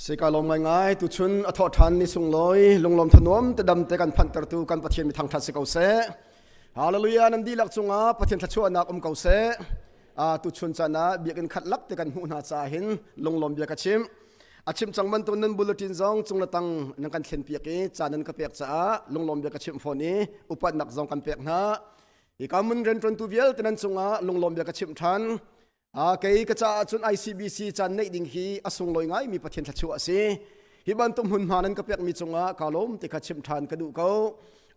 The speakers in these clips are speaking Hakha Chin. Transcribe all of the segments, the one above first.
Sika lawm ngaingai tu chun a thawh ṭhan ni sunglawi lunglawm thanuam te dam te kan phantertu kan Pathian mi thangṭhat si ko seh. Hallelujah nan dihlak cungah Pathian thluachuahnak um ko seh. A tu chun chan ah biakin khat lak te kan hmuh hna ca hin lunglawm bia ka chim. a chim cang bantuk nan bulletin zong cung le tang nan kan thlen piak i caan nan ka pek caah lunglawm bia ka chimh fawn i upatnak zong kan pek hna hi ka mun rianṭuantu vialte nan cungah lunglawm bia ka chimh ṭhan a kei ka caah cun ICBC caan neih ding hi a sunglawi ngai mi Pathian thluachuah a si hi bantuk hmunhma nan ka pekmi cungah ka lawm ti kha chimh ṭhan ka duh ko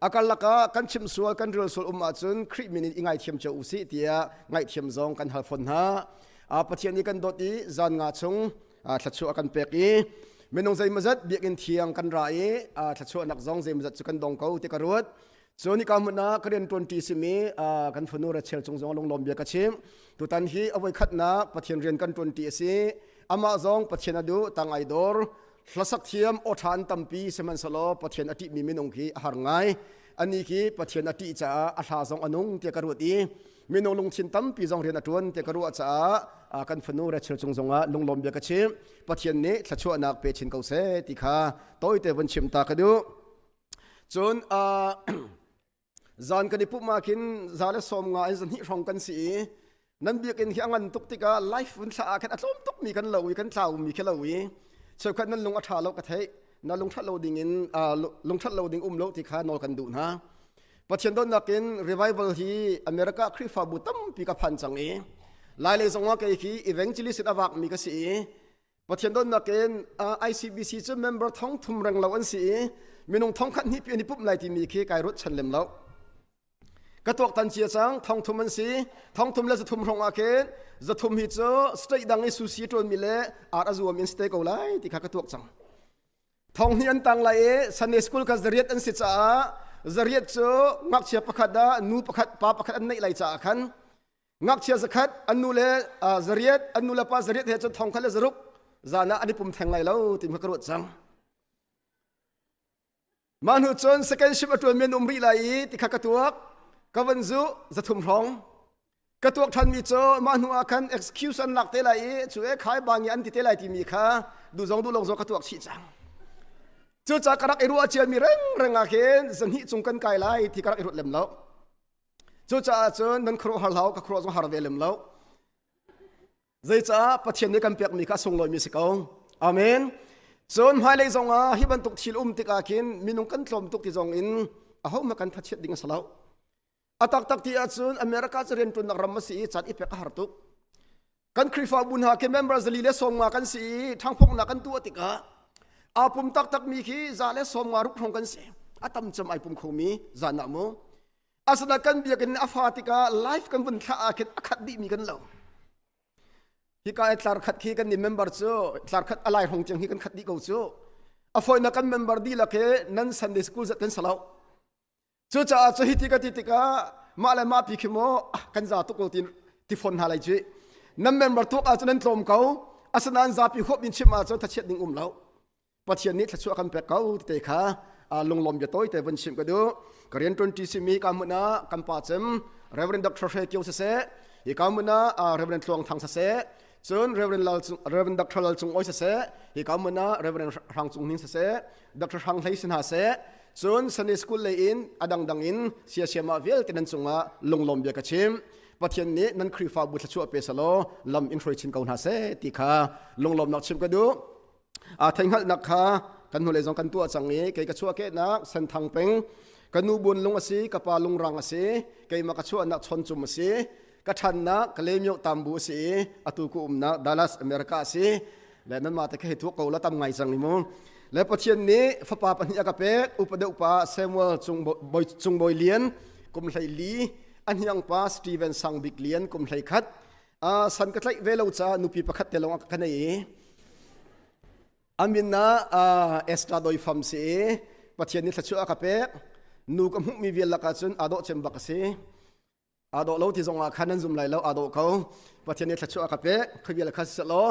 a karlak ah kan chim sual kan ril sual um ahcun Khrih min in i ngaithiam cio u sih tiah ngaihthiam zong kan hal fawn hna a Pathian i kan dawt i zan nga chung thluachuah kan pek i minung zeimazat biakinn thiang kan ra i thluachuah nak zong zeimazat cu kan dong ko ti ka ruat so ni ka mun na ka rian tuan ti simi kan funu rachel chung zong lunglom bia ka chim tutan hi avoi khat na pathian rian kan tuan ti asi ama zong pathian adu tang ai dor hlasak thiam o than tampi seman salo pathian ati mi minung khi har ngai Ani khi Pathian a ṭih caah a hla zong a nung tiah ka ruat i minung lungthin tampi zong rian a ṭuan tiah ka ruah caah kan fanu Rachel cung zongah lunglawm bia ka chim Pathian nih thluachuahnak pe chin ko seh ti kha tawite vun chim ta ka duh cun zan kan i pumh ah khin za le sawm nga in zahnih hrawng kan si i nan biakinn hi a ngan tuk tikah life vun thlah ah khan a tlawm tukmi kan lo i kan tlaumi khi lo i cheukhat nan lung a ṭha lo ka theih na lungṭhat lo ding in lungṭhat lo ding um lo ti kha nawl kan duh hna pathian donnak in revival hi america khrihfabu tampi ka phan cang i lailei zongah kei khi evangelist in avak mi ka si i pathian donnak in icbc cu member thong thum reng lo an si i minung thong khat hnih pi an i pumh lai timi khi kai ruat chan lem lo ka tuaktan cia cang thongthum an si thongthum le zathum hrong ah khin zathum hi cu straight dang i susi ṭuanmi le ar a zuam in stay ko lai ti kha ka tuak cang thong hi an tang lai i sunday school ka zariat an si caah zariat cu ngakchia pakhat ah nu pakhat pa pakhat an neih lai caah khan ngakchia zakhat an nu le zariat an nu le pa zariat he cun thong khat le zaruk zan ah an i pum theng lai lo ti kha ka ruat cang Mah hnu cun second shift a ṭuanmi an um rih lai i ti kha ka tuak. Ka van zuh, zathum hrawng. Ka tuak ṭhanmi cu mah hnuah khan excuse an lak te lai i cu e khai bang i an ti te lai timi kha duh zong duh lo zong ka tuak chih cang. Cucaah ka rak i ruah ciami rengreng ah khin zahnih cung kan kai lai ti ka rak i ruat lem lo. Cucaah cun nan khuaruah har hlau, ka khuaruah zong har ve lem lo. Zeicaah Pathian nih kan pekmi kha sunglawimi si ko. Amen. Cun hmailei zong ah hi bantuk thil um tikah khin minung kan tlawm tuk ti zong in ahohmah kan tha ding a si lo. A taktak ti ahcun America cu rianṭunnak ram a si i can i pek a har tuk. Kan Khrihfabu hna khi member zali le sawmnga kan si i ṭhangphongnak kan tuah tikah aa pum taktakmi khi za le sawmnga ruk hrong kan si. A tam cem ai pum khomi zan ah mu. asana kan biakin a fa tikah life kan vun thlah ah khin a khat dih mi kan lo hika ai tlar khat khi kan ni member cu tlar khat alai rong cheng hi kan khat dih ko cu a foina kan member di lake nan sunday school zat kan salau cu caah cu hi ti ka ti tikah ma le ma pi khi mo kan za tuk lo tin ti phon hna lai cui nan member tuk a cu nan tlawm ko asanan zapi hop in chim a cu thachiat ding um lo pathian nih thlachuah kan pek ko te kha lunglawm bia tawi te van sim ka du korean 20 simi ka muna kan pa cem reverend dr hre kyo se se hi ka muna reverend thluang thang se se cun reverend lal reverend dr lal cung oi se se hi ka muna reverend hrang cung nin se se dr hrang hlei sin ha se cun sunday school le in adang dang in sia siama vial te nan cunga lunglawm bia ka chim pathian nih nan khrifa bu thlachuah pe salo lam in hroi chin ko hna se ti kha lunglawm nak chim ka du a theihngalhnak kha kan hnulei zong kan tuah cang i kei ka chuahkehnak senthang peng ka nu buan lung a si ka pa lungrang a si keima ka chuahnak chawncum a si ka ṭhannak ka lemio tambu a si i atu ku umnak Dallas America a si le nan mate ka he thuak ko la tam ngai cang ni mu le pathian nih fapa pahnih a ka pek upa deuh pa Samuel cung cung boi lian kum hlei li a hniang pa Stephen sang bik lian kum hlei khat a san ka tlaih ve lo caah nupi pakhat te lawng ah ka nei i amin na extra doi fam si i pathian nih thlachuah a ka pek nu ka hmuhmi vial lakah cun aa dawh cem bak a si aa dawh lo ti zong ah khan an zum lai lo aa dawh ko pathian nih thlachuah a ka pek khoi vial kha siseh law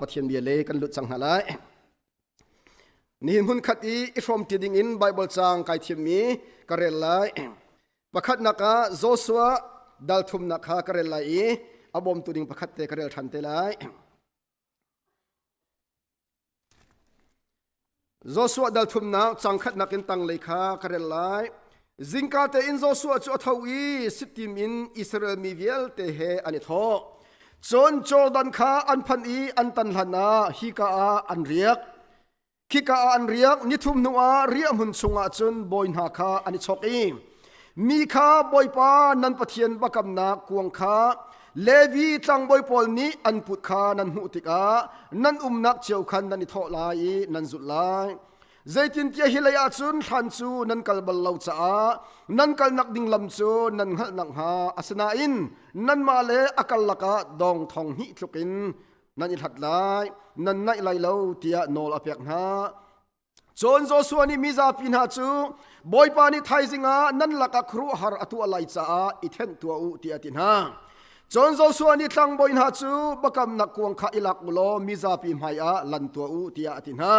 pathian bia le kan lut cang hna lai nihin hmun khat i i hrawm ti ding in bible cang kai thiammi ka rel lai Pakhatnak ah Joshua dalthumnak kha ka rel lai i a bawmtu ding pakhat te ka rel ṭhan te lai. Joshua dalthumnak cangkhatnak in tanglei kha ka rel lai. Zingka tein Joshua cu a tho i sitim in Israel mi vialte he an i thawh. Cun Jordan kha an phanh i an tan hlanah hika ah an riak. khika ah an riak nithum hnu ah riah hmun chungah cun bawi hna kha an i chok i mi kha bawipa nan pathian bakamnak kuang kha levi tlangbawi pawl nih an put kha nan hmuh tikah nan umnak cio khan nan i thawh lai i nan zulh lai zeitintiah hi lei ah cun thlan cu nan kal bal lo caah nan kalnak ding lam cu nan hngalh nakhnga asinain nanmah le a kal lakah dawng thong hnih tlukin nan i hlat lai nan naih lai lo tiah nawl a pek hna cun Joshua nih mi zapi hna cu bawipa nih thaizing ah nan lakah khuaruahhar a tuah lai caah i thenh tuah u tiah a ti hna cun Joshua nih tlangbawi hna cu bakamnak kuang kha i lak u law mi zapi hmaiah lan tuah u tiah a ti hna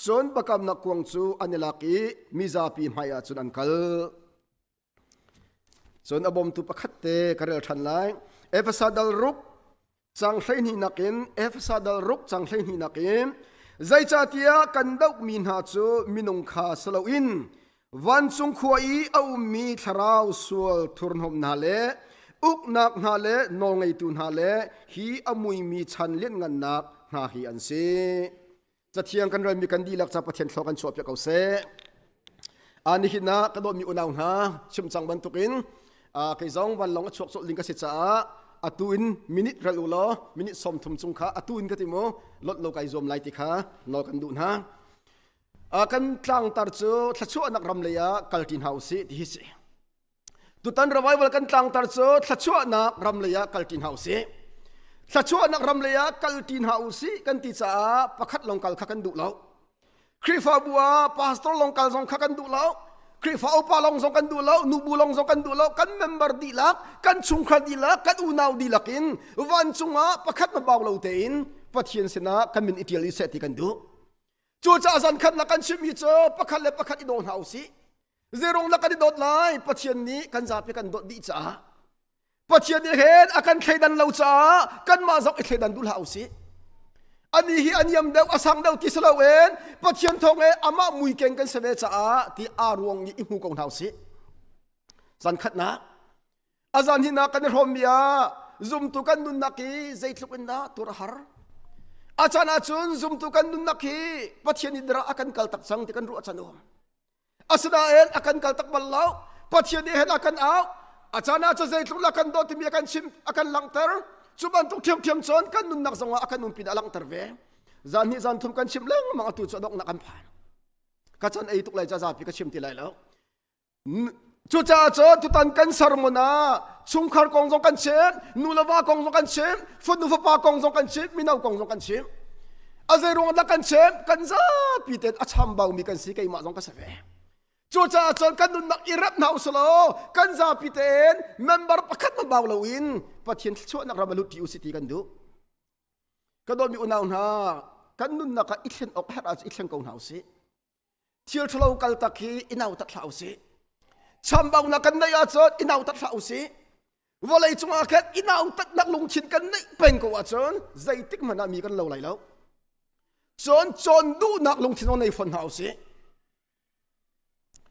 cun bakamnak kuang cu an i lak i mi zapi hmaiah cun an kal Cun a bawmtu pakhat te ka rel ṭhan lai. Efesa dal ruk cang hleihnih nakin Efesa dal ruk cang hleihnih nakin zeicahtiah kan dohmi hna cu minung kha si loin vancung khua i a ummi thlarau sual thurhnawm hna le uknak hna le nawlngeitu hna le hi a muimi chan lianngannak hna hi an si. cathiang kan relmi kan dihlak ca pathian thlo kan chuahpiak ko seh a nihin ah ka dawtmi unau hna chim cang bantukin kei zong vanlong a chuak colh ding ka si caah atu in minute ral u law minute som thum chung kha atu in ka ti mu lot lo kai zuam lai ti kha nawl kan duh hna kan tlangtar cu thlachuahnak ram lei ah kalṭi hna u sih ti hi si tutan revival kan tlangtar cu thluachuahnak ram lei ah kalti hna usih thluachuahnak ram lei ah kalti hna usih kan ti caah pakhat long kal kha kan duh lo Khrihfabu ah pastor long kal zong kha kan duh lo Khrihfa upa long zong kan duh lo nubu long zong kan duh lo kan member dihlak kan chungkhar dihlak kan unau dihlak in vancung ah pakhat mabau lo tein pathian sinah kan min itial i seh ti kan duh cu caah zan khatnak kan chimmi cu pakhat le pakhat i daw hna usih Zeirung lak kan i dawt lai Pathian nih kan zapi kan dawt dih caah Pathian nih hen a kan thleidan lo caah kanmah zong i thleidan duh hlah usih ani hi aniam deuh a sang deuh ti si loin Pathian thawng e amah muikeng kan si ve caah ti aa ruang nih i hmu ko hna usih zan khatnak azan hinak kan i hrawmmi ah zumtu kan nunnak hi zeitluk in dah tur a har a can ahcun zumtu kan nunnak hi Pathian i dara a kan kal tak cang ti kan ruah can um asinain a kan kal tak bal lo pathian nih hen a kan au a caan ah cu zeitluk la kan dawh timi a kan chim a kan langhter cu bantuk ṭhiamṭhiam cun kan nunnak zongah a kan nun pin a langhter ve zan hnih zan thum kan chim lengmang atu cu a donghnak an phan ka chan ei tuk lai ca zapi ka chim ti lai lo Cucaah cu tutan kan sermon ah chungkhar kong zong kan chim, nulava kong zong kan chim, fanu fapa kong zong kan chim, mino kong zong kan chim. A zei ruang dah kan chim? Kan zapi ten a chambaumi kan si, keimah zong ka si ve. Cucaah cun kan nunnak i rap hna usulaw kan zapi ten member pakhat ma bau lo in Pathian thluachuahnak ram a lut ṭi usih ti kan duh. Ka dawmi unau hna, kan nunnak ah i thlen awk a herh ah i thleng ko hna usih. thil ṭhalo kaltak hi i nautat hlah usih. Chambaunak kan neih ahcun i nautat hlah usih. Vawlei cungah khan i nautatnak lungthin kan neih peng ko ahcun zeitik hmanh ah mi kan lo lai lo. Cun cawn duhnak lungthin on nei fawn hna usih.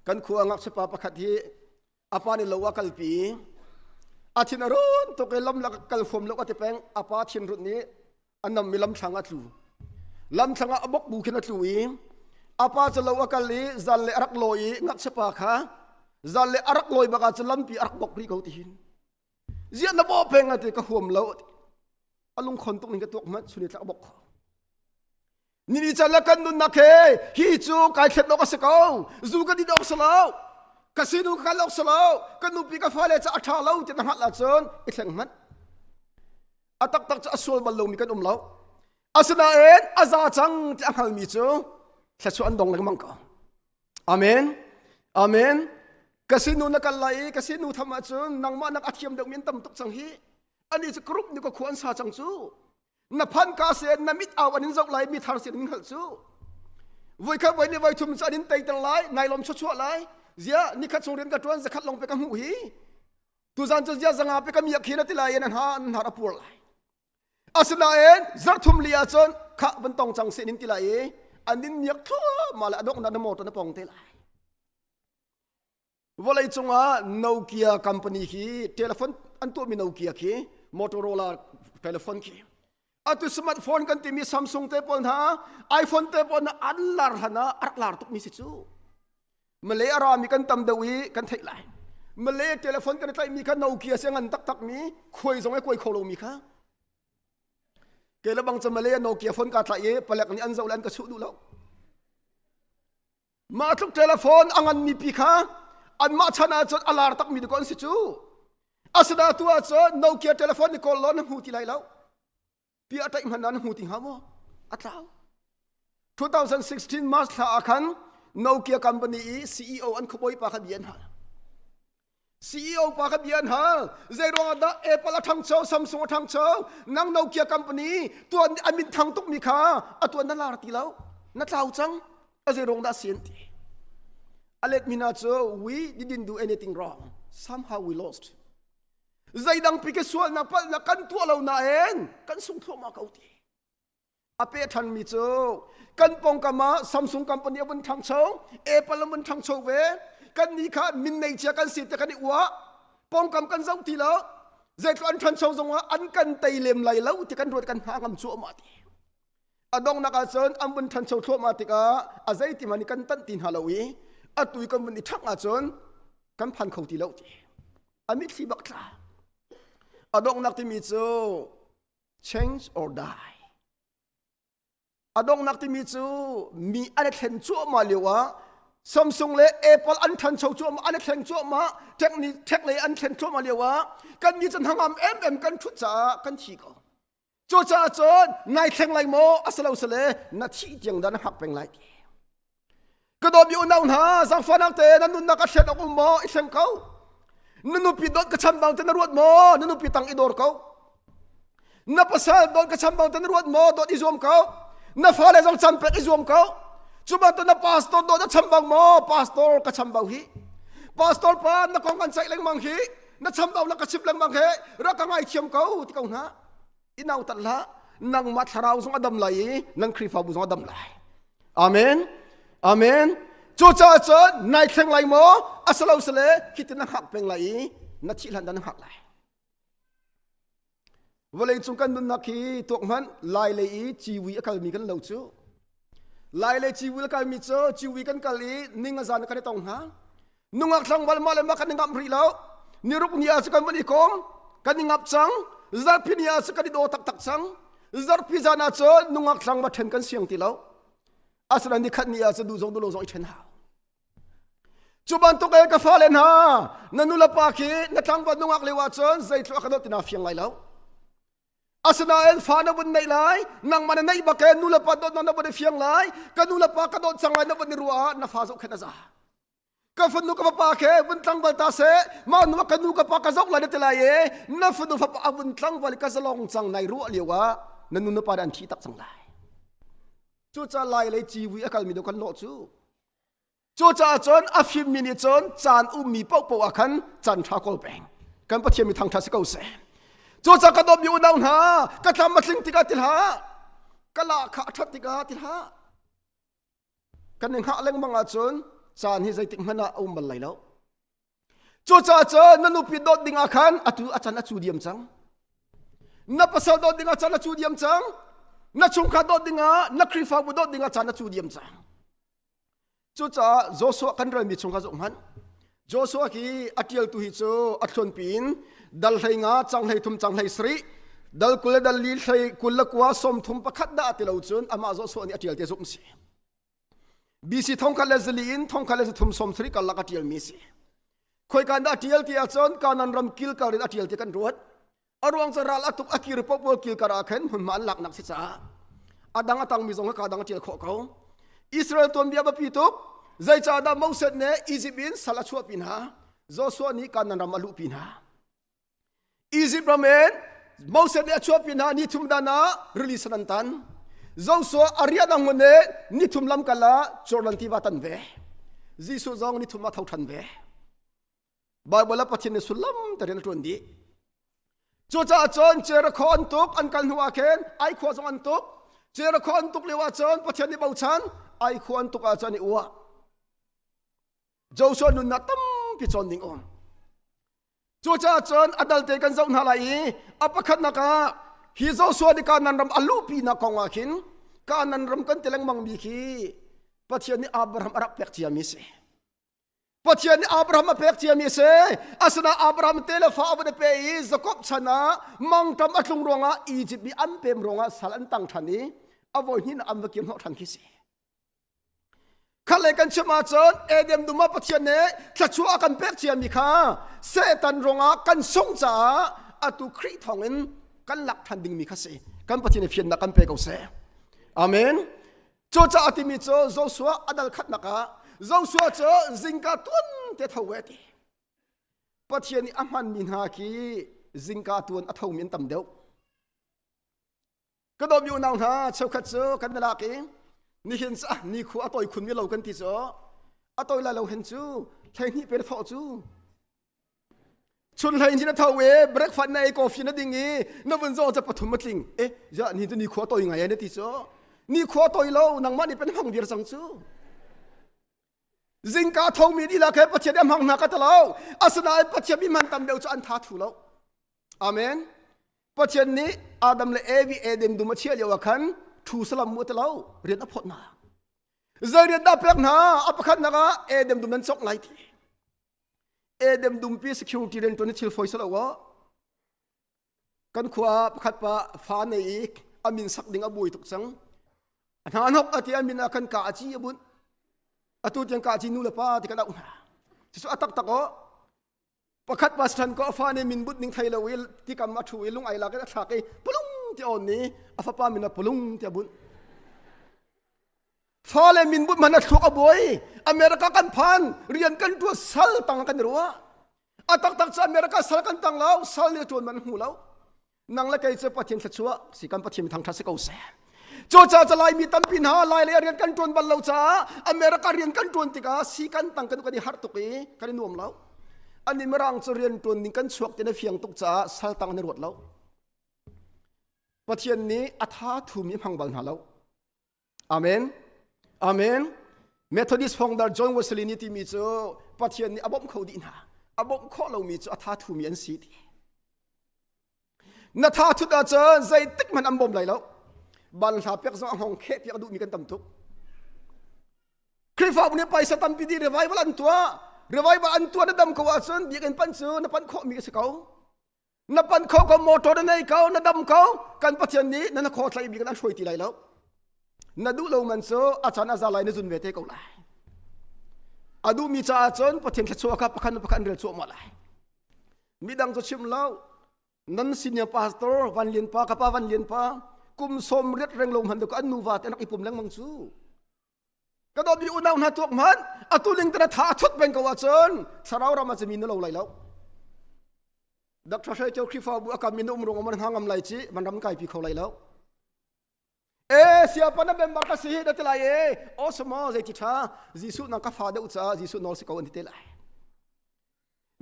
Kan khua ngakchia pa pakhat hi apa ni lo a kalpi a thin a run tuk i lam la kal huam lo a ti peng apa thin run nih a nam mi lam thlang a tlu lam thlang ah a bok bu khin a tlu i apa cu lo a kal i zan le arak lawi i ngakchia pa kha zan le arak lawi baka cu lampi arak bok ri ko tihin ziah na bawh peng ate ka huam lo a lungkhon tuk ning ka tuak hmat suni tlak bok ni ni chan la kan nun nak he hi cu kai thlet ok se ko zu ka di dok salo ka sinu ka lok salo ka nupi ka fale cha atha lo ti na hat la chun i thleng hmat atak tak cha asual bal lo mi kan um lo asinain aza cang ti a ngal mi cu thlachu an dong leng mang ko Amen. Amen. Ka sinu na kal lai i ka sinu tham ahcun nangmah nak a thiam deuh min tam tuk cang hi. Ani cu kurup ni ka khu an sa cang cu. Na phan ka se na mit au an in zoh lai mi thar sin in hngalh cu. Voi khat voi ni voi thum cu an in teiter lai nai lom chuchuah lai. Zia ni khat chung rian ka tuan zakhat long pe ka hmuh hi. Tuzan cu zia zanga pe ka miak khi na ti lai an ha an har apuar lai. Asinain zarthum li ah cun kha van tong cang se nin ti lai i an in miak thluahmah le a donghnak na motor na pong te lai vawlei cungah Nokia company khi telephone an tuahmi Nokia khi Motorola telephone khi atu smartphone kan timi Samsung te pawl hna iPhone te pawl hna an lar hlan ah a rak lar tukmi si cu Malay a rami kan tam deuh i kan theih lai. Malay telephone kan i tlaihmi kha Nokia si ngan taktakmi khuai zong ai kuai kho lomi kha ke le bang ca Malay Nokia phone ka tlaih i palek nih an zoh le an ka chuh duh lo. Mah tluk telephone a nganmi pi kha anmah chan ah cun a lar takmi te ko an si cu. Asina tu ah cun Nokia telephone ni kawl lo na hmu ti lai lo. ti a taih hmanh nan hmu ti hnga maw a tlau 2016 March thla ah khan Nokia company i CEO an khuabawi pa kha bia an hal CEO pa kha bia an hal zei ruangah dah Apple a ṭhangcho Samsung a ṭhangcho nang Nokia company tuan an min thang tukmi kha a tuan nan lar ti lo na tlau cang a zei ruang dah si an ti a let mi hna cu we didn't do anything wrong somehow we lost zeidangpi ka sualnak palh na kan tuah lo nain kan sung thluahmah ko ti a pe thanmi cu kan pongkam ah Samsung company a vun thangcho Apple a vun thangcho ve kan ni kha min nei chia kan si te kan i ua pongkam kan zoh ti lo zeitluk an thancho zongah an kan tei lem lai lo ti kan ruat kan ha ngam cu ma ti a donghnak ahcun an vun thancho thluahmah tikah a zeiti man i kan tanh ti hna lo i a tui kan vun i thak ahcun kan phan kho ti lo ti a mitthli bak tla a donghnak timi cu change or die a donghnak timi cu mi an i thlen cuahmah lio ah Samsung le Apple an than cho cuahmah an i thleng cuahmah tech lei an thlen cuahmah lio ah kan nih cun hangam em em kan thut caah kan thi ko Cucaah cun ngai thleng lai maw a si lo sale na thih tiang da na hngak peng lai ka dawmi unau hna zangfahnak te nan nunnak a thlet ok um maw i thleng ko na nupi dot ka chan bang te na ruat maw na nupi tang i dor ko na pasal dot ka chan bang te na ruat maw dot i zuam ko na fale zong can pek i zuam ko cuma to na pastor dot a chan bang maw pastor ka chan bang hi pastor pa na kong kan ceih lengmang hi na cham dau la ka chim lengmang he ra ka ngai thiam ko ti ko na inau tat la nangma thlarau zong adam lai i nan khrifabu zong adam lai amen amen cu ca cun nai thleng lai mo asalo sale hitin na hak peng lai i na thihlan dan hak lai Vawleicung kan nunnak hi tuak hmanh lailei i ciwi a kalmi kan lo cu. Lailei ciwi a kalmi cu ciwi kan kal i ning a zan kan i tong hna. Nungak thlangval mah le mah kan i ngamh rih lo. Niruk ni ah cu kan van i kawm, kan i ngap cang. Zarpi ni ah cu kan i daw taktak cang. Zarpi zan ah cun nungak thlang va ṭhen kan siang ti lo. Asinain ni khat ni ah cu duh zong duh lo zong i ṭhen hau. Cu bantuk el ka fale hna na nulepa khi na tlangvat nungak lio ahcun zeitluk a ka dawt tina fiang lai lo. Asinain fa na vun neih lai, nangmah na neih bak in nulepa dawt na vun i fiang lai, ka nulepa ka dawt cang lai na vun i ruah ah na fa zoh khin a za. Ka fanu ka fapa khe vun tlangval ta se, ma nu ka nu ka pa ka zoh lai na ti lai e, na fanu fapa a vun tlangval i ka zalong cang nai ruah lio ah na nu nupa dah an thi tak cang lai. Cucaah lai lei civi a kalmi deuh kan lawh cu Cucaah cun a fimmi nih cun caan ummi paohpaoh ah khan can ṭha kawl peng. Kan Pathian mi thangṭhat si ko seh. Cucaah ka dawt mi unau hna, ka thlam a tling tikah ti hlah, ka lahkhah a ṭhat tikah ti hlah. Kan i hngah lengmang ahcun caan hi zeitik hmanh ah a um bal lai lo. Cucaah cun na nupi dawt dingah khan atu a can a cu diam cang. Na pasal dawt dingah can a cu diam cang. Na chungkhar dawt dingah na Khrihfabu dawt dingah can a cu diam cang. Cucaah Joshua kan relmi chungkha zoh hmanh. Joshua hi a ṭialtu hi cu a thlonpi in dal hlei nga, cang hlei thum, cang hlei sarih, dal kul le dal li hlei kul le kua sawm thum pakhat dah a ti lo cun amah Joshua nih a ṭial te zumh a si. BC thongkhat le zali in thongkhat le thum som thari karlak a ṭialmi a si. Khoikan dah ṭial ti ahcun kanan ram kil kar in a ṭial ti kan ruat. A ruang cu ral a tuk a kir popol kil kar ah khan hmunhma an laknak si caah a dang a tangmi zong ka dang a ṭial khawh ko. Israel tuanbia biapi tuk zeicahdah Moses nih Egypt in sal a chuahpi hna Joshua nih kanan ram a luhpi hna. Izipt ram in Moses nih a chuahpi hna nithum dan ah rili san an tan. Zosuah a ria dang ngun nih nithum lam kal ah Jordan tiva tan ve. Jesuh zong nithum ah tho ṭhan ve. Baibal ah Pathian nih sullam terin a ṭuan dih. Cucaah cun Jericho an tuk an kal hnuah khin ai khua zong an tuk. Jericho an tuk lio ah cun Pathian nih bochan ai khua an tuk ah cun i uah. Joshua nunnak tampi cawn ding um. Cucaah cun a dalte kan zoh hna lai i a pakhatnak ah hi Joshua nih Kanaan ram a luhpinak kong ah khin Kanaan ram kan ti lengmangmi khi Pathian nih Abraham a rak pek ciami a si. Pathian nih Abraham a pek ciami a si. Asinain Abraham te le fa a van i pe i Jakob chan ah mangṭam a tlung ruangah Izipt mi an pem ruangah sal an tang ṭhan i a voi hnih an va kir hnawh ṭhan khi si. Khat le kan chim ahcun Eden dum ah Pathian nih thluachuah a kan pek ciami kha Satan rongah kan sungh caah atu Khrih thawngin kan lak ṭhan dingmi kha si. Kan Pathian i fiannak kan pe ko seh. Amen. Cucaah timi cu Joshua a dal khatnak ah Joshua cu zingka tuan te tho ve ti. Pathian nih a hmanmi hna khi zingka tuan a thomi an tam deuh. ka dawm u nau hna cheukhat cu kan i lak i nihin cu ah ni khu a toi khun mi lo kan ti cu a toi lai lo hen cu hleihnih pe na thawh cu chun hlei hin a tho e breakfast na ei coffee na ding i na vun zong ca pathum a tling e ya ni tu ni khua toi ngai na ti cu ni khua toi lo nangmah nih pen hong dir cang cu Zingka thomi dihlak he Pathian a hmang hna ka ta lo. Asinain Pathian mi man tam deuh cu an tha thu lo. Amen. Pathian nih Adam le Evi Eden dum a chiah lioah khan thu salam mu ta lo. Rian a phawt hna. Zei rian dah pek hna? A pakhatnak ah Eden dum nan cawk lai ti. Eden dumpi security riantuan na thil fawi sa lo kan khua ah pakhat pa fa nei i a min sak ding a buai tuk cang a hna hnok a ti a min ah kan ka a ci a bunh atu tiang ka ci nu le pa ti ka doh hna cucu a taktak o pakhat pa sithan ko a fa nih min but ning thei lo i tikam a thu i lung ai lak in a thlak i pulung ti on ni a fapa min a pulung ti a bunh fa le min but man a thluak a buai america kan phan rian kan tuat sal tang kan ruah a taktak cu america sal kan tang lo sal le tuan man hmu lo nang le kei cu pathian thlachua si kan pathian thangthat si ko se cu ca ca lai mi tampi hna lai le rian kan tuan bal lo caah america rian kan tuan tikah si kan tang kan kan i har tuk i kan i nuam lo ani mirang cu rian tuan ning kan chuak tina fiang tuk caah sal tang ne ruat lo pathian nih a tha thumi hmang bal hna lo Amen. Amen. Methodist founder John Wesley nih timi cu Pathian nih a bawmh kho dih hna. A bawmh khawh lomi cu a tha thumi an si ti. Na tha thut ahcun zeitik hmanh an bawm lai lo. Banhla pek zong a hong kheh tiah duhmi kan tam tuk. Khrihfabu nih paisa tampi di revival an tuah. Revival an tuah na dam ko ahcun biakinn pan cu na pan khawhmi ka si ko. na pan kho ko motor na nei ko na dam ko kan pathian nih na na kho thlai bi kan hruai ti lai lo na duh lo man cu a chan a za lai na zun ve te ko lai a duh mi caah cun pathian thluachuah kha pakhat nu pakhat rel chuah ma lai mi dang cu chim lo nan senior pastor van lian pa kapa van lian pa kum som riat reng lo hman ko an nu va te nak ipum lengmang cu ka dawtmi unau hna tuak hmanh atu ling tena tha a thut peng ko ahcun thlarau ram ah cumi na lo lai lo Dr. Hre Ṭio Khrihfabu a kam in um rung amar hna ngam lai ci man ram kai pi kho lai lo e sia pana member ka si hi da tilai e o sama zei ti tha jesu na ka fa deuh ca jesu nol si ko an ti te lai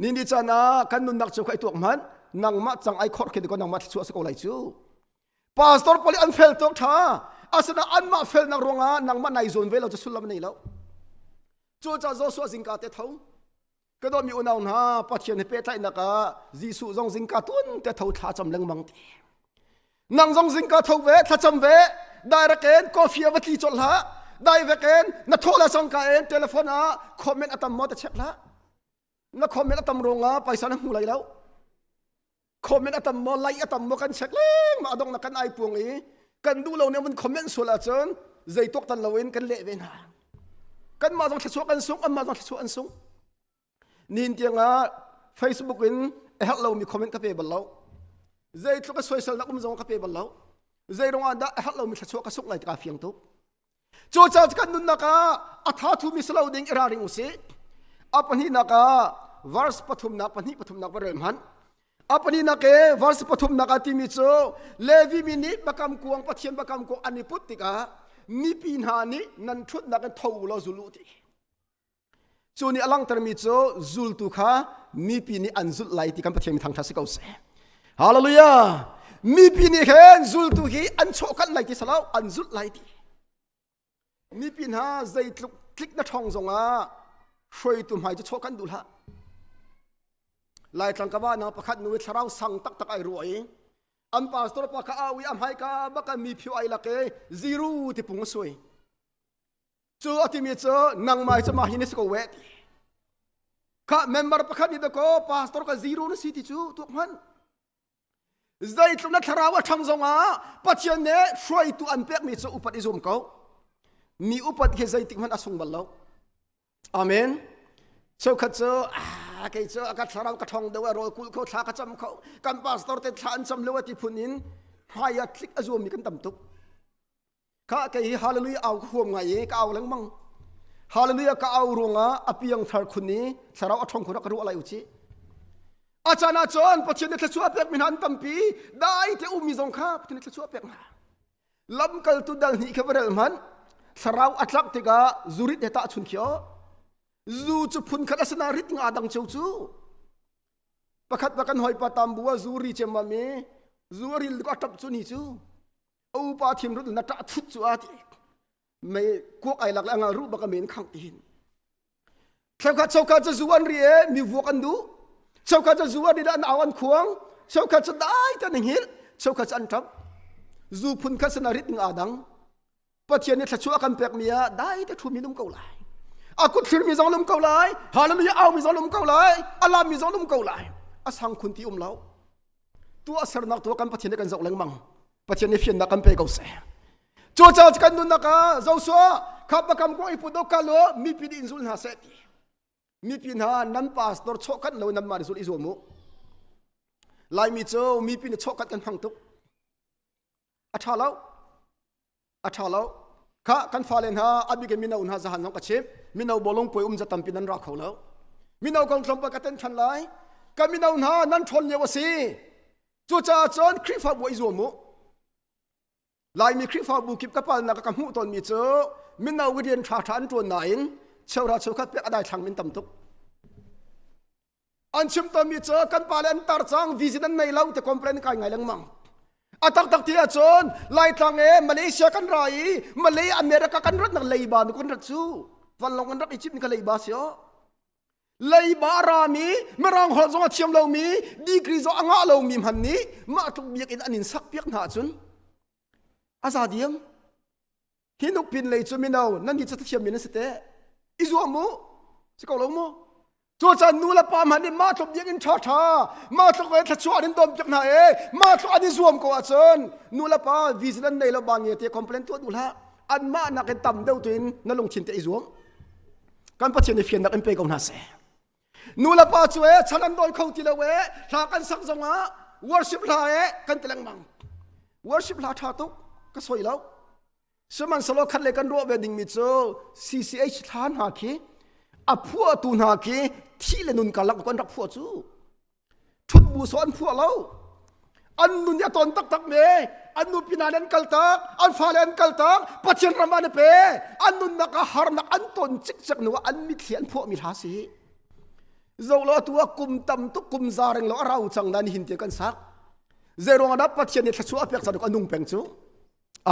Ni ni can ah kan nunnak cu ka i tuak hmanh nangmah cang ai khor khin ko nangmah thluachuah si ko lai cu pastor pali an fel tuk tha asina anmah felnak ruangah nangmah nai zawn ve lo cu sullam nei lo cu ca Joshua zingka te tho ka dawmi unau hna pathian he pehtlainak ah Jesuh zong zingka tuan te tho thla cham lengmang te nang zong zingka tho ve thlacam ve direct en coffee a va tli cawlh hlah direct en na thola sangka en telephone ah comment atam mo ta check hlah na comment atam ronga paisa na hmu lai lo comment atam mo like atam mo kan check leng ma adong na kan ai puang i kan du lo ne mun comment sual ahcun zeitok tan loin kan le ve na kan ma zong thlasua kan sung amma zong thlasua an sung Nin tiangah Facebook in a herh lomi comment ka pe bal lo. Zeitluk a soisalnak um zong ka pe bal lo. Zeirung ah dah a herh lomi thluachuah ka suk ngai ka fiang tuk. Cu caan kan nunnak ah a tha thumi si lo ding i raring usih. A pahninak ah verse pathumnak pahnih pathumnak va rem han. A pahninak e verse pathumnak ah timi cu Levi mi nih bakam kuang pathian bakam kuang an i put tikah mipi hna nih nan ṭhutnak in tho law zulu ti. Cu nih a langhtermi cu zultu kha mipi nih an zulh lai ti kan Pathian mi thangṭha si ko seh. Hallelujah! Mipi nih khin zultu hi an chawhkanh lai ti salo, an zulh lai ti. Mipi hna zeitluk tlik na ṭhawng zongah hruaitu hmai cu chawhkanh duh hlah. Laitlang kama nang pakhat nu i thlarau sang taktak ai ruah i an pastor pa ka au i a hmaika baka mi phio ai lak e ziru tipung a sui. Cu a timi cu nangmah cu mah hi na si ko we ti. Kha member pakhat nih dakaw pastor ka zero na si ti cu tuk hman. Zeitluk na thlarau a thang zongah Pathian nih hruaitu an pekmi cu upat i zum ko. Mi upat hi zeitik hmanh a sung bal lo. Amen. Cheukhat cu ah kei cu a ka thlarau ka thong deuh a rawl kul kho thla ka cam kho kan pastor te thla an cam lo a ti phun in hmai a thlik a zuami kan tam tuk Ka ke hi hallelujah au khuam ngai i ka au lengmang. Hallelujah ka au ruangah a piang thar khun i thlarau a thong khun ka ruah lai u ci. A chan ah cun Pathian nih thluachuah pek mi hna an tampi dai te ummi zong kha Pathian nih thluachuah pek hna. Lamkaltu dal hnih kha va rel hmanh thlarau a tlak tikah zurit he tah chun khio. Zu cu phun khat a sina rit nga dang cheu cu. Pakhat pa kan hoi pa tam bua zu ri chem ma mi zu ril ka tap cu ni cu. a upa thim rut na ṭah thut cu a ti mei kuak ai lak le angal ru bak a men khang tin thlakhat chokha cu zu an ri e mi vuak an du chokha cu zu an ri an au an khuang chokha cu dai tan hil chokha cu an ṭap zu phun kha sana rit nga dang pathian ni thlachu kan pek mi a dai te thu mi lum ko lai a kut thlir mi zong lum ko lai halam hi au mi zong lum ko lai alam mi zong lum ko lai a sang khun ti um lo tuahsernak tu kan pathian kan zoh lengmang pathian i fiannak kan pe ko seh cu caah kan nunnak ah Joshua khapa kam ko i put dok ka lo mipi in zul hna seh ti mipi hna nan pastor chok khat lo nan ma zul i zuam mu laimi cu mipi na chok khat kan hmang tuk a ṭha lo a ṭha lo kha kan fale hna abik mino hna zahan zong ka chim mino bolung poi um za tampi nan ra kho lo mino kong tlawmpal ka ten ṭhan lai ka mino hna nan ṭhawn lio a si cucaah cun Khrihfabu i zuam u Laimi Khrihfabu kip ka palnak ka hmuh tawnmi cu mino rian ṭha ṭha an ṭuan nain cheura cheukhat pek a dai thlang min tam tuk an chim tonmi cu kan pale an tar cang vision an nei lo te complain kai ngai lengmang a taktak ti ahcun laitlang e malaysia kan ra i malay america kan rat nak leiba nu kan rat cu vanlong an rak i chimh ni ka leiba si o leiba rami mirang holh zong a thiam lomi degree zong a ngah lomi hman nih mah tluk biak in an in sak piak hna ahcun a za diam hi nuk pin lei cu mino nan hi cu thlithiam min an si te i zuam mu si ko lo mu cucan nu le pa hmanh nih ma tluk biak in ṭha ṭha ma tluk ve thluachuah in dawm piak hna e ma tluk an i zuam ko ahcun nu le pa vision an nei lo ba nge te complain tuah duh hlah an mah nak in tam deuh tu in na lungthin te i zuam kan pathian i fian nak in pe ko hna seh nu le pa cu e chal an dawi kho ti lo e hla kan sak zongah worship hla e kan ti lengmang worship hla tha tuk ka soi lo sihmanhsehlaw khat le kan ruah ve dingmi cu CCH hla hna khi a phuahtu hna khi thi le nun karlak kan rak phuah cu chun muso an phuah lo an nun ya ton taktak me an nu pinale an kal tak an fale an kal tak pathian ram an pe an nunnak a harnak an ton cik cek nu an mitthli an phuah mi hla si zo lo tu a kum tam tu kum za reng lo arau chang nan hin te kan sak ze rong ana pathian ni thlachu a pek sa anung peng chu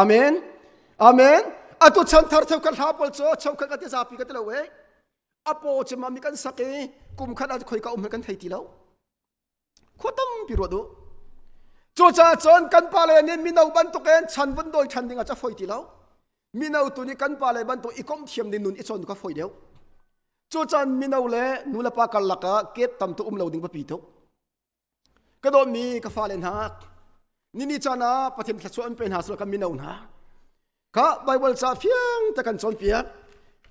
amen amen atu chan thar cheu kan hla pol cho cheu kan ka ti zapi ka ti lo we a paw cema mi kan sak i kum khat ah khoi ka um kan thei ti lo khua tampi ruat u cucaah cun kan pale nih mino bantukin chan vun dawi ṭhan dingah ca foi ti lo mino tu nih kan pale bantuk i kom thiam ding nun i chon ka foi deuh cucaah mino le nu le pa karlak ah kep tam tu um lo ding papi tuk ka dawtmi ka fale hna nini caan ah Pathian thluachuah an pe hna sawh kan mino hna kha Baibal ca fiang te kan cawnpiak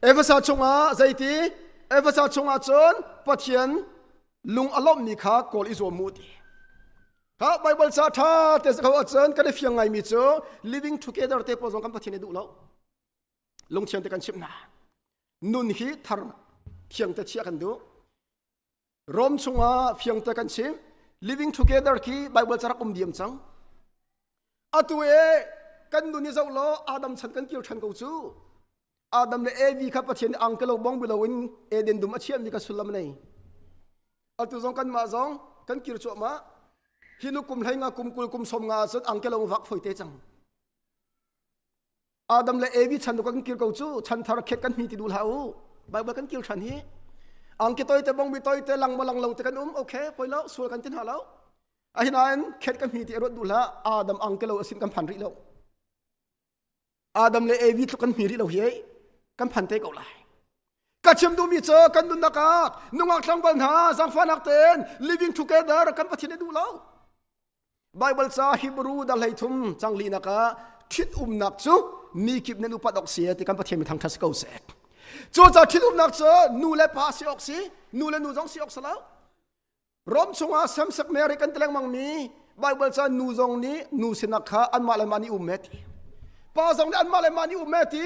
Efesa chungah zeiti Efesa chungah cun Pathian lung a lawmhmi kha kawl i zuam mu ti kha Baibal ca ṭha te sa kho ahcun kan i fiang ngaimi cu living together te pawl zong kan Pathian i duh lo lungthiang te kan chimh hna nun hi thar thiang te chiah kan duh Rome chungah fiangte kan chim. Living together khi Bible carak um diam cang. Atu e kan nun i zoh law Adam chan kan kir than ko cu. Adam le Evi kha Pathian ang ke lo bong bilo in Eden dum a chiam ni ka sullam nei. Atu zong kan mah zong kan kir chuah ma. Hi nu kum hlai nga kum kul kum som nga cun ang ke lo vak foi te cang. adam le evi chan nu kan kir ko cu chan thar khek kan mi ti du la u bible kan kil than hi ang ke toy te bong bi toy te lang mo lang lo te kan um okay poi lo sul kan tin ha lo a hinain khet kan mi ti rot du la adam ang ke lo asin kan phan ri lo adam le evi tlu kan mi ri lo hi kan phan te ko lai ka chim du mi cho kan dun naka nungak tlang bal na zang fa nak ten living together kan pathin du lo Baibal ca Hebrew da hleithum cang linak ah ṭhitumnak cu mi kip nan upat awk si ti kan Pathian mi thangṭhat si ko seh. Cuca ṭhitumnak cu nu le pa si awk si, nu le nu zong si awk si lo. Rom chungah samsak Mary kan ti lengmangmi Baibal ca nu zong nih nu sinak kha anmah le mah nih um e ti. Pa zong nih anmah le mah nih um e ti.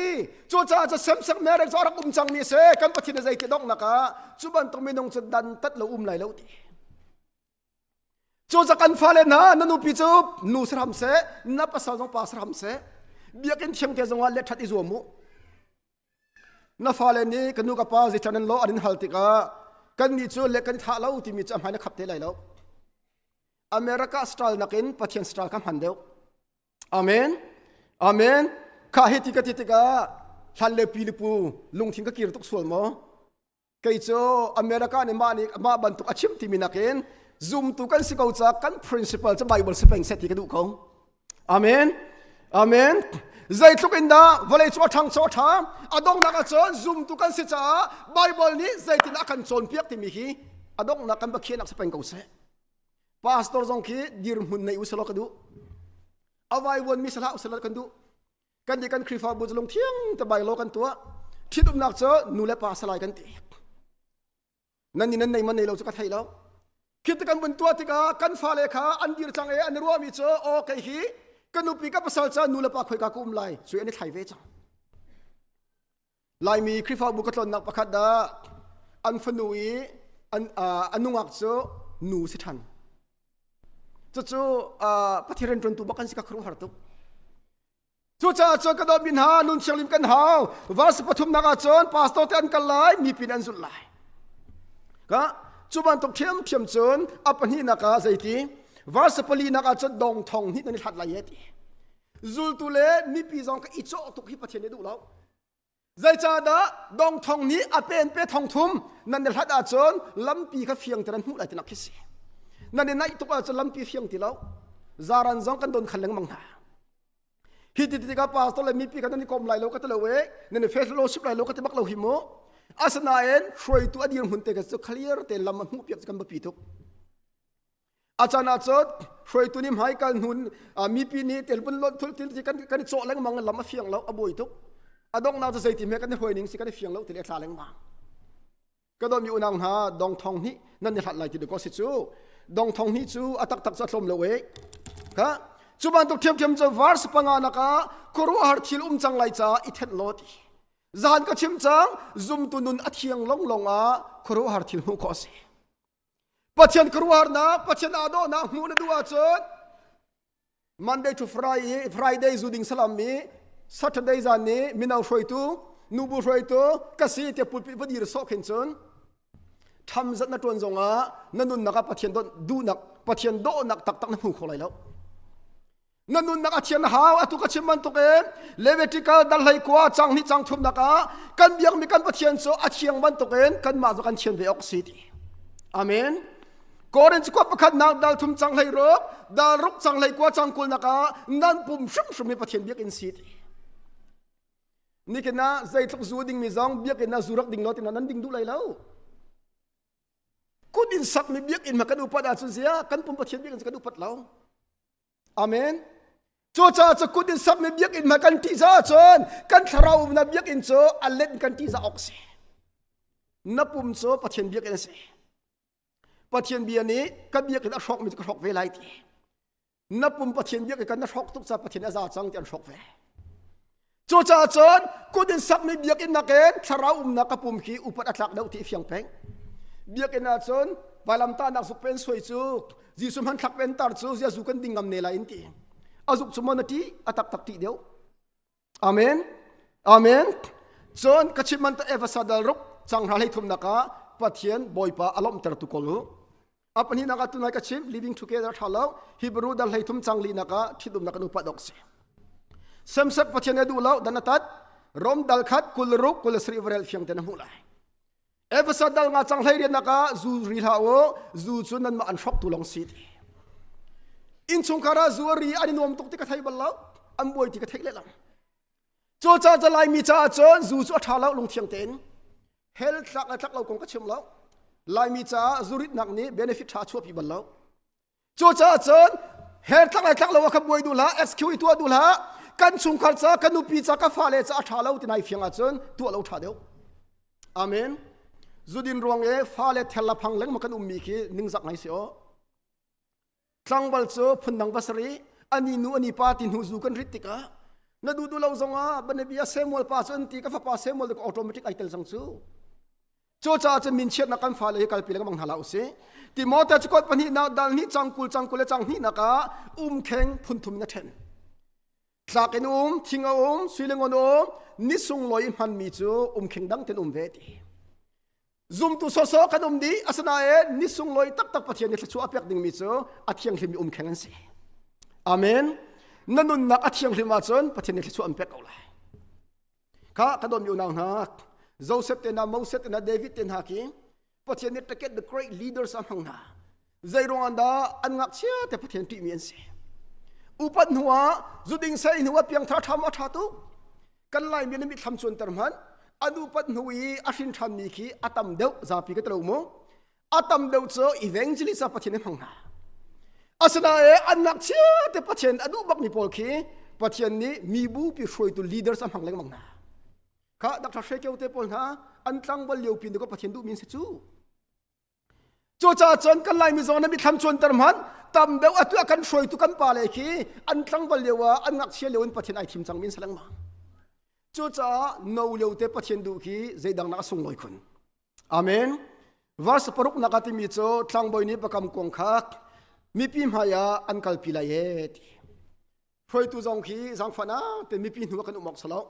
Cucaah ca samsak Mary cu rak um cangmi si kan Pathian a zei ti donghnak ah cu bantuk minung cu dantat lo um lai lo ti. Cu kan fale hna na nupi cu nu si hram seh na pasal zong pa si hram seh biakinn thiamte zongah let ṭhat i zuam u na fale nih ka nu ka pa zei nan law an in hal tikah kannih cu le kan thlah lo timi cu a hmai na khap te lai lo America style nakin Pathian style ka hman deuh amen amen kha hi ti ka ti tikah hlan le pi le pu lungthin ka kir tuk sual maw kei cu America nih mah nih mah bantuk a chim timi nakin zumtu kan si ko caah kan principle cu Bible si peng set ti ka duh ko amen amen zeitluk in dah vawlei cu a ṭhang cu a ṭha a donghnak ahcun zumtu kan si caah Bible nih zeitin a kan cawnpiak timi hi a donghnak kan bakhianak si peng ko seh pastor zong khi dirhmun nei u selaw ka duh a vaivuanmi sahlah u selaw kan duh kan ti kan Khrihfabu cu lungthiang te bai law kan tuah ṭhitumnak cu nu le pa salai kan ti nan ni nan nei man nei lo cu ka thei lo khi ti kan vun tuah tikah kan fale kha an dir cang i an ruahmi cu o kei hi ka nupi ka pasal ca nu le pa khoi ka kum lai cu an i thlai ve cang Laimi Khrihfabu ka tlonnak pakhat dah an fanu i an, uh, a nungak cu nu si ṭhan. Cucu uh, Pathian rianṭuantu bak kan si ka khuruh har tuk. Cucaah cun ka dawtmi hna, nun thianghlim kan hau. Vas pathumnak ah cun pastor te an kal lai, mipin an zulh lai. Ka cu bantuk ṭhiamṭhiam cun a pahnihnak ah zeiti? Vas pali nak ah cun dong thong hnih nan i hlat lai ye ti. zultu le mipi zong ka i cawh tuk hi Pathian nih duh lo zeicahdah dong thong nih a pen pe thong thum nan i hlat ahcun lampi kha fiang te nan hmuh lai tinak khi si nan i naih tuk ahcun lampi fiang ti lo zaran zong kan don khal lengmang hna hi ti tikah pastor le mipi kha nan i kom lai lo ka ti lo e nan i fellowship lai lo ka ti bak lo hi mu asinain hruaitu a dir hmun te ka cu clear te lam a hmuh piak kan biapi tuk a can ah cun hruaitu nih hmai kal hnun mipi nih telpun lot thul til kan kan i cawh lengmang lam a fiang lo a buai tuk a dongh na cu zeiti hme kan i hruai ning si kan i fiang lo til e thla lengmang ka do mi unang hna dong thong ni nan ni hlat lai ti de ko si cu dong thong ni cu a tak tak cha thlom lo e ka cu ban tuk thiam thiam cho vars panga naka khuru har thil um chang lai cha i then lot zan ka chim chang zum tu nun a thiang long long a khuru har thil hu ko si Pathian khuaruahnak Pathian aa dawhnak hmuh na duh ahcun Monday to Friday Friday zu ding salam i Saturday zan ni mino hruaitu nubu hruaitu ka si tiah pulpit padir sok hin cun tham zat na tuan zongah na nunnak ah Pathian duhnak Pathian dawhnak taktak na hmu kho lai lo na nunnak a thian hau atu ka chim bantuk in levitical dar hlei kua cang hnih cang thumnak ah kan biakmi kan pathian cu a thiang bantuk in kanmah cu kan thian ve awk si ti amen korin cu pakhat nak dal thum cang hlei ruk dal ruk cang hlei kua cang kul nak ah nan pum hrim hrim hi pathian biakin si ti nikin ah zeitluk zu ding mi zong biakin ah zu rak ding lo tina nan ding duh lai lo kut in sak mi biakin ma kan upat ah cun zia kan pum pathian biakin kan upat lo Amen. Cucaah cu kut in sakmi biakinn hma kan ṭih caah cun kan thlarau umnak biakinn cu a let in kan ṭih caah awk a si. Na pum cu Pathian biakinn a si. Pathian bia nih ka biakinn a hrawkmi cu ka hrawk ve lai ti. Na pum Pathian biakinn kan na hrawk tuk caah Pathian a za cang ti an hrawk ve. Cucaah cun kut in sakmi biakinn nakin thlarau umnak ka pum khi upat a tlak deuh ti fiang peng. Biakinn ah cun vailamtahnak zuk pen suai cu Jesuh hman thlak pentar cu ziazu kan ding ngam ne la in ti. A zuk cu mon a ti a taktak ti deuh. Amen. Amen. Cun ka chim man ta Efesa dal ruk changhra lei thumnak ah Pathian Bawipa a lawmhter tu kol u. a pahnih nak ah tunai ka chim leading together tha lo hebrew da hlei thum chang li nak ah thidum nak nu pat ok si semsat pathian edu lo dan atat rom dal khat kul ruk kul sri vrel fiang ten mu lai efesa dal nga chang hlei rian nak ah zu ri la o zu chu nan ma an shop tu long si ti in chung kara zu ri ani nuam tuk ti ka thai bal lo an buai ti ka thei le lang Cu ca ca Laimi caah cun zu cu a ṭha lo lungthiang tein hell thlak le thlak lo kong ka chim lo. Laimi caah zuritnak nih benefit ṭha chuahpi bal lo. Cucaah cun hell thlak le thlak lo ah khan buai duh hlah, excuse tuah duh hlah. Kan chungkhar ca, kan nupi ca, ka fale ca a ṭha lo ti nai fiang ahcun tuah lo ṭha deuh. Amen. Zudin ruang i fale thella phang lengmang kan ummi khi ningzak ngai si u. Tlangval cu phundang pasarih ani nu ani pa ti hnu zu kan rit tikah na du du lo zongah banabia Samuel pa cu an ti ka fapa Samuel ka automatic ai tel sang cu cu caah cun min chiatnak kan fale hi kalpi le ka mang hna la usih Timote cu kot pahnih nak dal hnih cang kul cang kul le cang hnih nak ah umkheng phunthum in a ṭhen tlak in um thing a um suilengon um ni sungloi hmanmi cu um khing dang ten um ve ti zumtu soso kan um di asinain ni sungloi taktak pathian ni thluchuah a pek dingmi cu a thianghlim i um kheng an si amen na nunnak a thianghlim ahcun pathian ni thluchuah an pek ko lai kha ka don unau hna Joseph te na Moses te na David te hna ki Pathian nih take the great leaders a hmang na zei ruang da an ngak chia te Pathian ṭih mi an si upat hnua zuding sai hnua piang tha tham a tha tu kan lai mi na mi thlam chuan ter man anu pat hnu i a hrin tham mi khi atam deuh zapi ka tlo mu a tam deuh cu evangelist a pathian hmang hna asinain an ngakchia te pathian a duh bakmi pawl khi pathian nih mibupi hruaitu leaders a hmang lengmang hna kha dr hre keo te pawl hna an tlangval lio pin ka pathian duhmi si cu cucaah cun kan lai mizaw na mithlam chuanter hman tam deuh atu kan hruaitu kan pa le khi an tlangval lio ah an ngakchia lio in pathian ai thim cang min saleng ma cucaah no lio te pathian duh khi zeidang nak a sung ngoi khun Amen. Verse paruk nak a timi cu thlangbawi nih pakam kuang kha mipi hmai ah an kalpi lai e ti. Hruaitu zong khi zangfan ah te mipi hnu kan um ok salo.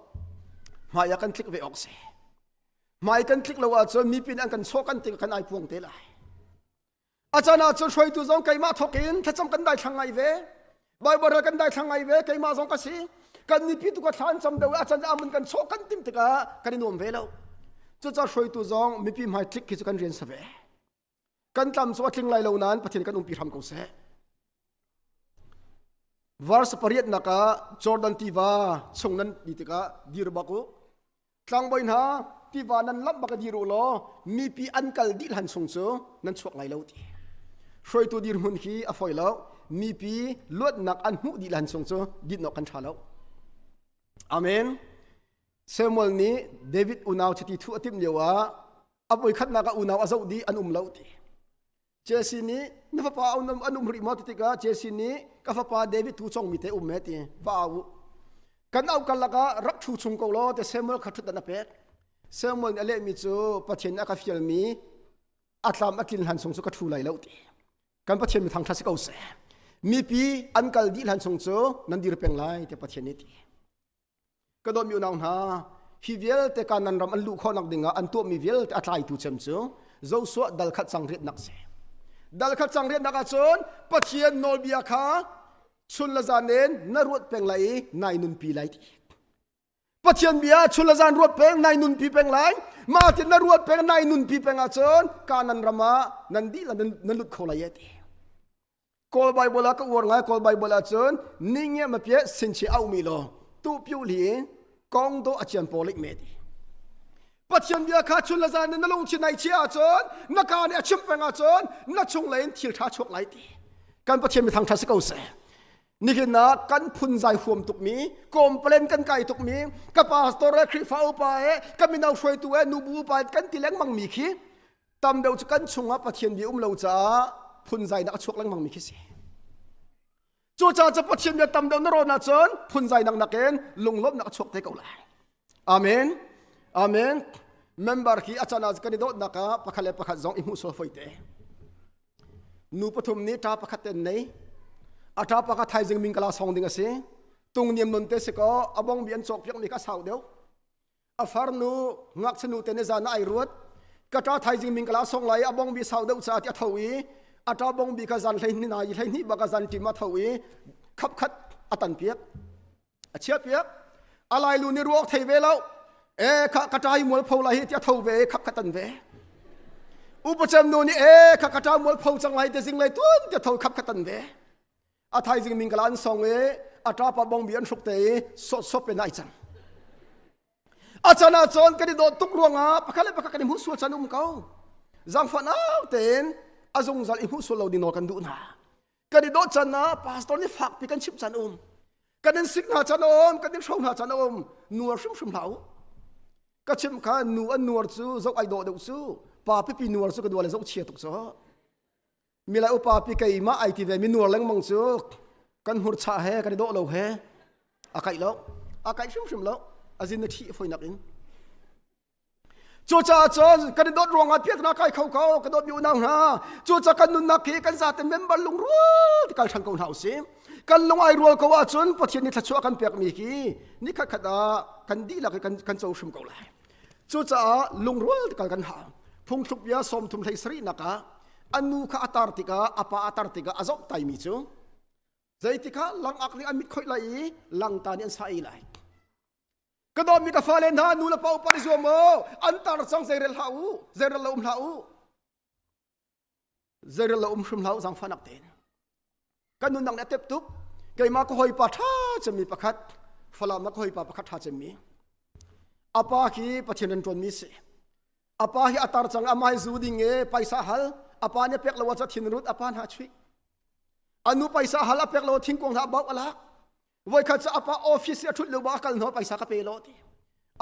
Hmai ah kan tlik ve ok se. Hmai kan tlik lo ah cun mipin an kan sok kan ting kan ai puang te lai. a can ah cun hruaitu zong keimah thawk in thlacam kan daithlang ngai ve bible ral kan daithlang ngai ve keimah zong ka si kan mipi tu ka thla an cam deuh a can amun kan chawh kan tim tikah kan i nuam ve lo cucaah hruaitu zong mipi hmai tlik khi cu kan rian sa ve kan tlam cu a tling lai lo nain pathian kan umpi hram ko seh verse pariat nak ah jordan tiva chung nan ni tikah dir bak u Tlangbawi hna, tiva nan lamh bak dir u law mipi an kal dih hlan sung cu nan chuak lai lo ti. Hruaitu dirhmun hi a foi lo. Mipi luatnak an hmuh dih hlan sung cu dinawk kan ṭha lo. Amen. Samuel nih David unau chiti thu a timh lio ah a voikhatnak ah unau a zoh dih an um lo ti. Jesse nih na fapa an um rih maw ti tikah Jesse nih ka fapa David tu congmi te um me ti va au u kan au karlak ah rak thu chung ko law te Samuel kha thut an a pek Samuel nih a lehmi cu Pathian a ka fialmi a tlam a tlin hlan chung cu ka thu lai lo ti kan Pathian mi thangtha si ko seh mipi an kal dih hlan chung cu nan dir peng lai te Pathian nih ti ka dawt mi unau hna hi vialte kanan ram an luh khawhnak dingah an tuahmi vialte a tlaitu cem cu Joshua dalkhat changriatnak si dalkhat changriatnak ahcun Pathian nawlbia kha chun le zan in na ruat peng lai i nai nunpi lai ti Pathian bia chun le zan ruat peng nai nunpi peng lai ma tin na ruat peng nai nunpi peng ahcun kanan ramah nan dih le nan lut kho lai ti Kawl Bible ah ka uar ngai Kawl Bible ah cun ningiam a pie sinchi aumi law tu piu li in kong do a cian polik me ti Pathian bia kha chun le zan in na lungthin nai chia ahcun na ka nih a chim peng ahcun na chung lei in thil ṭha chuak lai ti kan Pathian mi thangṭha si ko seh nihin ah kan phun zai huam tukmi complain kan kai tukmi ka pastor e khrihfa upa e ka mino hruaitu e nubu upa e kan ti lengmang mi khi tam deuh cu kan chungah pathian bia um lo caah phunzainak a chuak lengmang mi khi si cucaah cu pathian bia tam deuh na rawn ahcun phunzainak nakin lunglawmhnak a chuak te ko lai amen amen member khi a can ah kan i dawtnak ah pakhat le pakhat zong i hmuh sual fai te nu pathum nih ṭa pakhat ten nei a ṭa pakhat thaizing min kala song ding a si tung niam non te si ko abong bi an cawk piak mi kha sau deuh a farnu ngakchinu te ne zan ai ruat ka ta thaizing min kala song lai abong bi sau deuh sa ti tho i ata bong bi ka zan hlei ni na i hlei ni ba ka zan tim a tho i khap khat atan piak a chia piak alai lu ni ruok thei ve lo e kha ka tai mual pho lai hi ti tho ve khap khatan ve upachem nu ni e kha ka ta mual pho chang lai te zing lai tun ti tho khap khatan ve a thaizing min kala an song e a ṭapa bong bi an hruk te i sawtsawp in ai cang a can ah cun kan i dawt tuk ruangah pakhat le pakhat kan i hmuh sual can um ko zangfan au tein a zungzal i hmuh sual lo ding nawl kan duh hna kan i dawt can ah pastor nih fakpi kan chimh can um kan in sik hna can um kan in hro hna can um nuar hrimhrim hlah u ka chim kha nu an nuar cu zok ai daw deuh cu pa pipi nuar cu ka dua le zok chia tuk so mila upa pi kei mah ai ti ve mi nuar lengmang cu kan hmur cha he kan i dawh lo he a kaih lo a kaih hrimhrim lo azin na thi foi nak in cu caah cun kan i dawt ruangah piak na kai kho ko ka dawt mi unau hna cu ca kan nunnak hi kan zate member lungrual kal than ko hna usim kan lung ai rual ko ahcun pathian ni thlachuah kan pek mi khi ni khat khat ah kan dihlak hi kan kan co hrim ko lai Cucaah lungrual kal kan hang. Phungthluk bia sawm thum hlei sarih nakah an nu kha a tar tikah a pa a tar tikah a zomh taimi cu zeitikah langak nih an mit khoih lai i langta nih an sa i lai. Ka dawmi ka fale hna nu le pa upat i zuam u. An tar cang zeirel hlah u. Zeirel lo um hlah u. Zeirel lo um hrim hlah u zangfahnak tein. Kan nun dang nih a tep tuk. Keimah ka hawipa ṭha cemmi pakhat, Falam ka hawipa pakhat ṭha cemmi. Apa khi Pathian an ṭuanmi si. Apa hi a tar cang amai zu ding e paisa hal. Apa nih pek lo ah thin rut apa hna chuih. Anu paisa hal a pek lo thingkung hlah bau alak. voikhat cu apa office i a thut leuba a kal hno paisa ka pe lo ti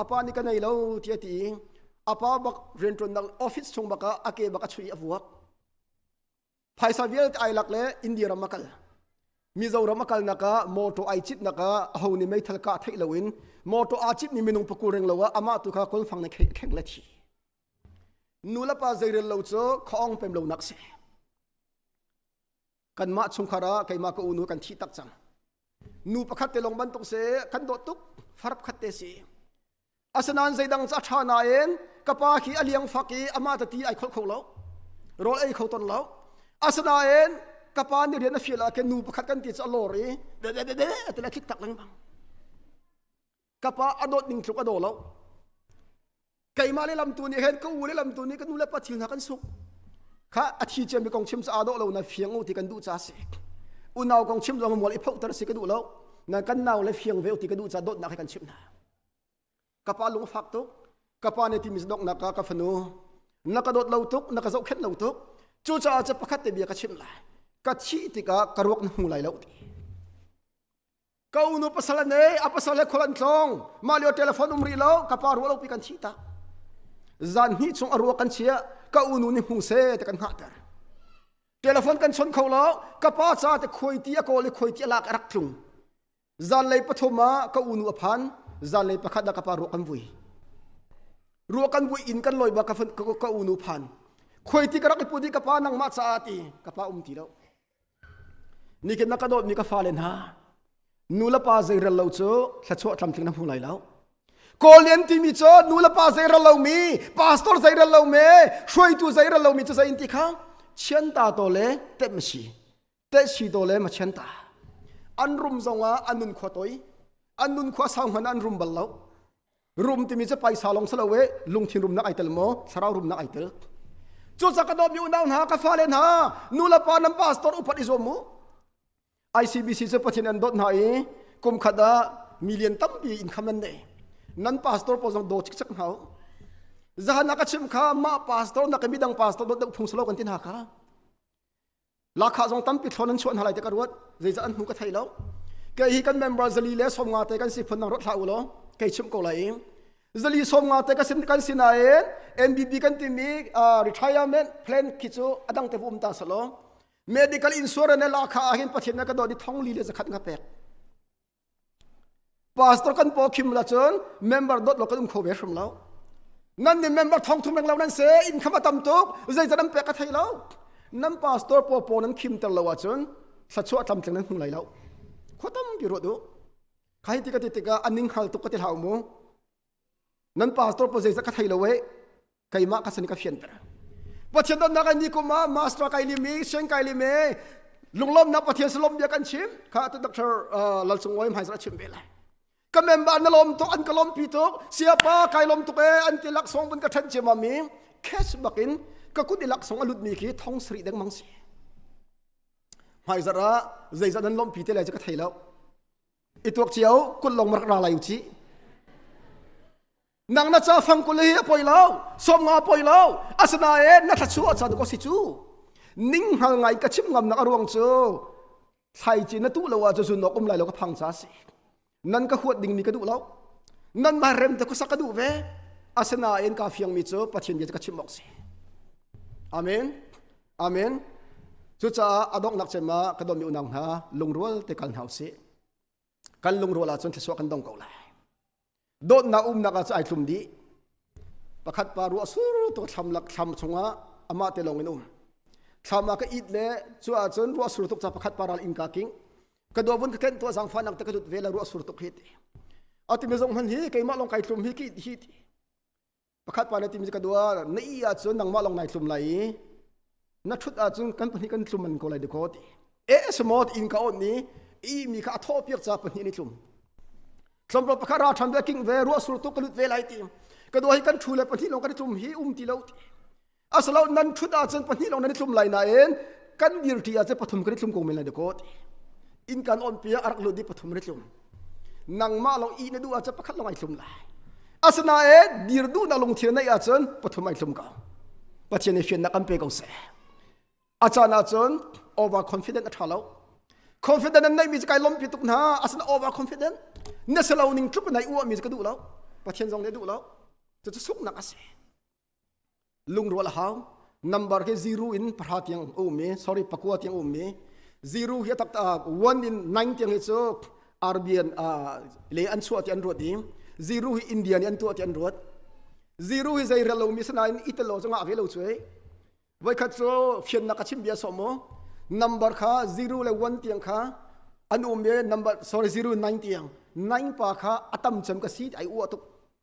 apa ni ka nei lo ti a ti apa bak riantuan nak office chung baka a ke baka chui a vuak phaisa vialte ai lak le india ram akal mizoram akal naka moto ai chit naka ho ni mei thal ka thei loin moto a chit ni minung paku reng lowa ama tu kha kol fang ne kheng le thi nula pa zeirel lo cho khong pem lo nak se kanmah chungkhar ah keimah ka unu kan thih tak cang nu pakhat te long bantuk se kan dawt tuk farap khat te si asinain zeidang ca tha na in ka pa khi a liang fak i ama ta ti ai khol kho lo rol ei kho ton lo asinain ka pa ni rian a feel a ke nu pakhat kan ti cha lor i de de de de te la khik tak leng bang kapa a dawt ning tluk a daw lo keimah le lamtu nih hen ka u le lamtu nih ka nu le pa thil hna kan suk kha a thi ciami kong chim sa a dawh lo na fiang u ti kan duh ca si unau kong chim zong mual i phoh tar si ka duh lo na kan nau le fiang ve u ti ka duh ca dawtnak hi kan chimh hna kapa lung fak tuk kapa nih timi donghnak ka ka fanu na ka dawt lo tuk na ka zohkhenh lo tuk cucaah ca pakhat te bia ka chimh lai ka thih tikah ka ruak na hmu lai lo ti Ka unu pasal an ei, a pasal le khual an tlong. Mah lio telephone um rih lo, ka pa ruah lo pi kan thi tak. Zan hnih chung a ruah kan chia, ka unu nih hmu se te kan hngah ter. Telephone kan chon kho lo, ka pa ca te khoi ti a kawl i khoi ti a lak a rak tlung. Zan lei pathum ah ka unu a phan, zan lei pakhat ah ka pa ruah kan vui. Ruah kan vui in kan loi ba ka, ka, ka unu phan. Khoi ti ka rak i put i ka pa nang ma caah ti, ka pa um ti lo. Nikin na ka dawtmi ka fale hna, nu le pa zeirel lo cu thluachuah tlamtling na hmu lai lo. Kawllian timi cu nu le pa zeirel lomi, pastor zeirel lomi, hruaitu zeirel lomi cu zei in ti kha chianta to le tem si, te si to le ma chianta. An rum zongah an nun khua toi, an nun khua sau hmanh an rum bal lo. rum timi cu paisa long salo e lungthin rumnak ai tel maw thlarau rumnak ai tel cu caka dom mi unau hna ka fale hna nu le pa nan pastor upat i zuam mu ICBC cu pathian an dot hna i kum khat ah million tampi income an nei nan pastor pawl zong do cik chak hna zahan ka chim kha mah pastor na ka midang pastor dot phung salo kan tin ha ka Lakha zong tampi thlawn an chuah hna lai te ka ruat zeicah an hmu ka thei lo ke hi kan member zali le sawmnga te kan si phun nang rot hla u law kai chim ko lai zali sawmnga te kan si nain NBB kan timi retirement plan khi cu adang te um ta salo medical insurance le lakha ah hin pathin na ka do di thong li le zakhat nga pek pastor kan paw khim la cun member dot lo kan um kho ve hrim lo nan nih member thong thum reng lo nan se in khama tam tuk zei nan pek ka thei lo nan pastor paw paw nan khim ter lo a cun sa chuah tlam tling nan hmu lai lo kho tam bi ro du khai ti ka ti tika aning hal tuk ka ti hlau mu nan pastor paw zei zat ka thei lo e keimah ka san ka fianter pathian dannak ai ni kum ah master kai lim i sen kai lim e lunglawmnak pathian salom bia kan chim kha atu dr lal sung wai mai zara chim ve lai ka member na lom to an ka lom pi to siapa kai lom tuk e an ti lak song bun ka than chema mi kes bakin ka kut ilak song alut mi ki thong sri deng mang si mai zara zeizat nan lom pi te lai ka thei lo ituak chiao kul long mar ra lai uchi nang na ca fang kule hi a poi lo som nga poi lo asinain na thlachu a chan ko si cu ning hal ngai ka chim ngam nak a ruang cu thlai ci na tu lo ah cu nok um lai lo ka phang ca si nan ka huat ding mi ka duh lo nan ma rem te khusak ka duh ve asinain ka fiang mi cu pathian bia cu ka chim ok si amen amen cucaah adok nak cem ma ka don mi unang hna lungrual te kal hau si kan lungrual ah cun thlasua kan dong ko lai dawtnak umnak ah cu ai thlum dih pakhat pa ruah sur tu thlam lak thlam chungah amah te lawng in um thlam ah ka it le cu ah cun ruah sur tuk ca pakhat pa ral in ka king ka do vun ka ken tua zang fa nak te ka dut ve la ruah sur tuk hi ti atimi zong hman hi keimah long kai thlum hi ki hi ti pakhat pa le timi ka duar na i ahcun nangmah long nai thlum lai i na thut ahcun kan pahnih kan thlum man ko lai dikho ti e smot in ka on ni i mi kha a thaw piak ca pahnih ni thlum thlomro pakhat ra than ve king ve ruah sur tu ka lut ve lai ti ka do hi kan thu le pahnih long kan thlum hi um ti lo ti asalo nan thut ah cun pahnih long nan thlum lai nain kan dirti ah cun pathum kan thlum ko men lai de kot in kan on pia arak lut di pathum ri thlum nangmah long i na du ah cun pakhat long ai thlum lai asinain dir du na lung thir nei ah cun pathum ai thlum ko pathian i fian na kan pe ko se achan ah cun over confident a tha lo confident an nei mi kai lom pi tuk na asina over confident na selo ning tlup nai u mi ka du lo pathian zong ne du lo tu chu suk nak ase Lungrual a hau. Number hi zero in pahra tiang a um i, sorry, pakua tiang a um i, zero hi a tak one in nine tiang hi cu Arabian le an chuah ti an ruat i, zero hi India nih an tuah ti an ruat. Zero hi zei rel lomi si nain italo cungah a ve lo cuai. Voikhat cu fiannak a chim bia sawm mu. Number kha zero le one tiang kha an um i, number, sorry, zero nine tiang. Nine pa kha a tam cem ka si ti ai uah tuk.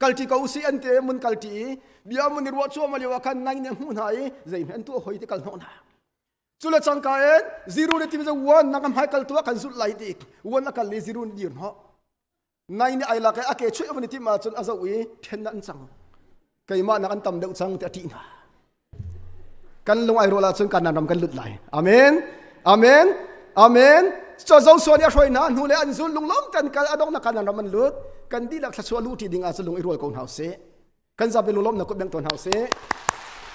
kalṭi ko usih an ti mun kalṭi i bia mun i ruah cuahmah lio ah khan nai nih a hmuh hna i zeihme an tuah hoi ti kal hnawh hna cu le cangka in ziru le tim wan nang a hmai kal tu ah kan zulh lai dik wan a kal le ziru nih dir hnawh nai nih ai lak i a ke chuih a vun i tim ahcun a zoh i ṭhen an cang keimah nak an tam deuh cang ti a ṭih hna kan lung ai rual ahcun kanan ram kan lut lai amen amen amen so zosua nih a hruai hna hnu le an zun lunglawm ten kal adong na kanan ram an lut kan dihlak thlasua lu ti ding ahcun lung i rual ko hna usih kan zapi lunglawm na kut beng tawn hna usih